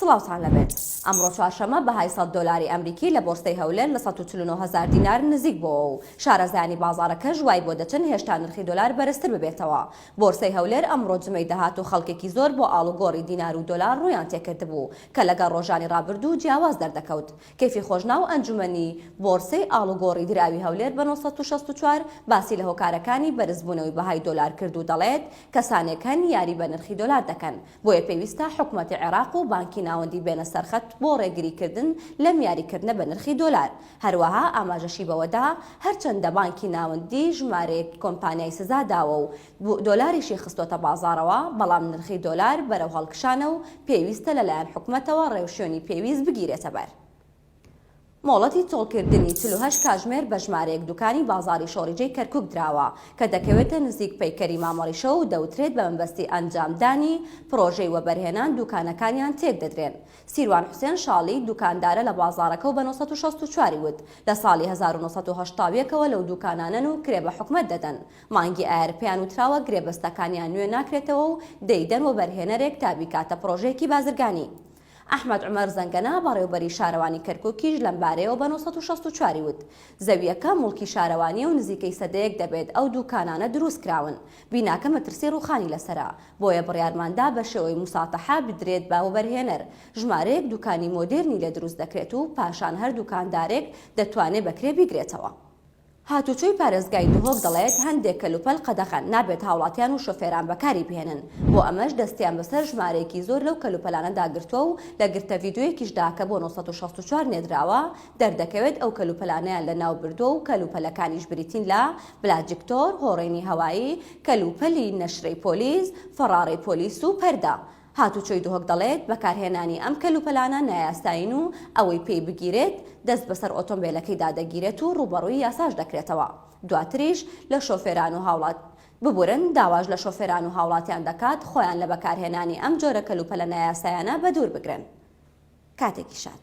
سڵاوتان لەبێت ئەمڕۆ چوارشەمە بەهای سەد دۆلاری ئەمریکی لە بۆرسەی هەولێر لە سەد و چل و نۆ هەزار دینار نزیک بۆوە و شارەزایانی بازاڕەکەش وای بۆ دەچن هێشتا نرخی دۆلار بەرزتر ببێتەوە بۆرسەی هەولێر ئەمڕۆ جمەی دەهات و خەڵکێکی زۆر بۆ ئاڵوگۆڕی دینار و دۆلار ڕوویان تێکردبوو کە لەگەڵ ڕۆژانی ڕابردوو جیاواز دەردەکەوت کەیفی خۆشنا و ئەنجومەنی بۆرسەی ئاڵوگۆڕی دراوی هەولێر بە نۆ سەد و شەست و چوار باسی لە هۆکارەکانی بەرزبوونەوەی بەهای دۆلار کرد و دەڵێت کەسانێک هەن یاری بە نرخی دۆلار دەکەن بۆیە پێویستە حکومەتی عێراق و بانکی ناوەندی بێنە سەرخەت بۆ ڕێگریکردن لەم یاریکردنە بە نرخی دۆلار. هەروەها ئاماژەشی بەوەدا، هەرچەندە بانکی ناوەندی ژمارەیەک کۆمپانیای سزا داوە و دۆلاریشی خستۆتە بازاڕەوە، بەڵام نرخی دۆلار بەرەو هەڵکشانە و پێویستە لەلایەن حکومەتەوە ڕێوشوێنی پێویست بگیرێتەبەر. مۆڵەتی چۆڵکردنی چل و هەشت کاژمێر بە ژمارەیەک دوکانی بازاڕی شۆڕیجەی کەرکوک دراوە کە دەکەوێتە نزیک پەیکەری مامەڕیشە و دەوترێت بە مەبەستی ئەنجامدانی پڕۆژەی وەبەرهێنان دوکانەکانیان تێکدەدرێن. سیروان حوسێن شاڵی، دوکاندارە لە بازاڕەکە و بە نۆ سەد و شەست و چوار ی وت، لە ساڵی هەزار و نۆ سەد و هەشتا و یەک ەوە لەو دوکانانەن و کرێ بە حکومەت دەدەن، مانگی ئایار پێیان وتراوە گرێبەستەکانیان نوێ ناکرێتەوە و دەیدەن وەبەرهێنەرێک تا بیکاتە پڕۆژەیەکی بازرگانی. ئەحمەد عومەر زەنگەنە، بەڕێوبەری شارەوانی کەرکوکیش لەمبارەیەوە بە نۆ سەد و شەست و چوار ی وت، زەوییەکە موڵکی شارەوانییە و نزیکەی سەدەیەک دەبێت ئەو دووکانانە دروستکراون، بیناکە مەترسی ڕووخانی لەسەرە، بۆیە بڕیارماندا بەشێوەی موساتەحە بدرێت بە وەبەرهێنەر، ژمارەیەک دووکانی مۆدێرنی لێ دروستدەکرێت و پاشان هەر دووکاندارێک دەتوانێت بەکرێ بیگرێتەوە. هاتووچۆی پارێزگای دهۆک دەڵێت، هەندێک کەلوپەل قەدەغەن، نابێت هاوڵاتیان و شۆفێران بەکاری بهێنن، بۆ ئەمەش دەستیان بەسەر ژمارەیەکی زۆر لەو کەلوپەلانەدا گرتووە و لە گرتە ڤیدیۆیەکیشدا کە بۆ نۆ سەد و شەست و چوار نێردراوە، دەردەکەوێت ئەو کەلوپەلانەیان لەناوبردووە و کەلوپەلەکانیش بریتین لە، بلاجکتۆر، هۆڕینی هەوایی، کەلوپەلی نەشرەی پۆلیس، فەڕاڕەی پۆلیس و پەردە. هاتوچۆی دهۆک دەڵێت، بەکارهێنانی ئەم کەلوپەلانە نایاسایین و ئەوەی پێی بگیرێت دەست بەسەر ئۆتۆمبێلەکەیدا دەگیرێت و ڕووبەڕووی یاساش دەکرێتەوە دواتریش لە شۆفێران و هاوڵات ببورن داواش لە شۆفێران و هاوڵاتیان دەکات خۆیان لە بەکارهێنانی ئەم جۆرە کەلوپەلە نایاسایانە بەدوور بگرن. کاتێکی شاد.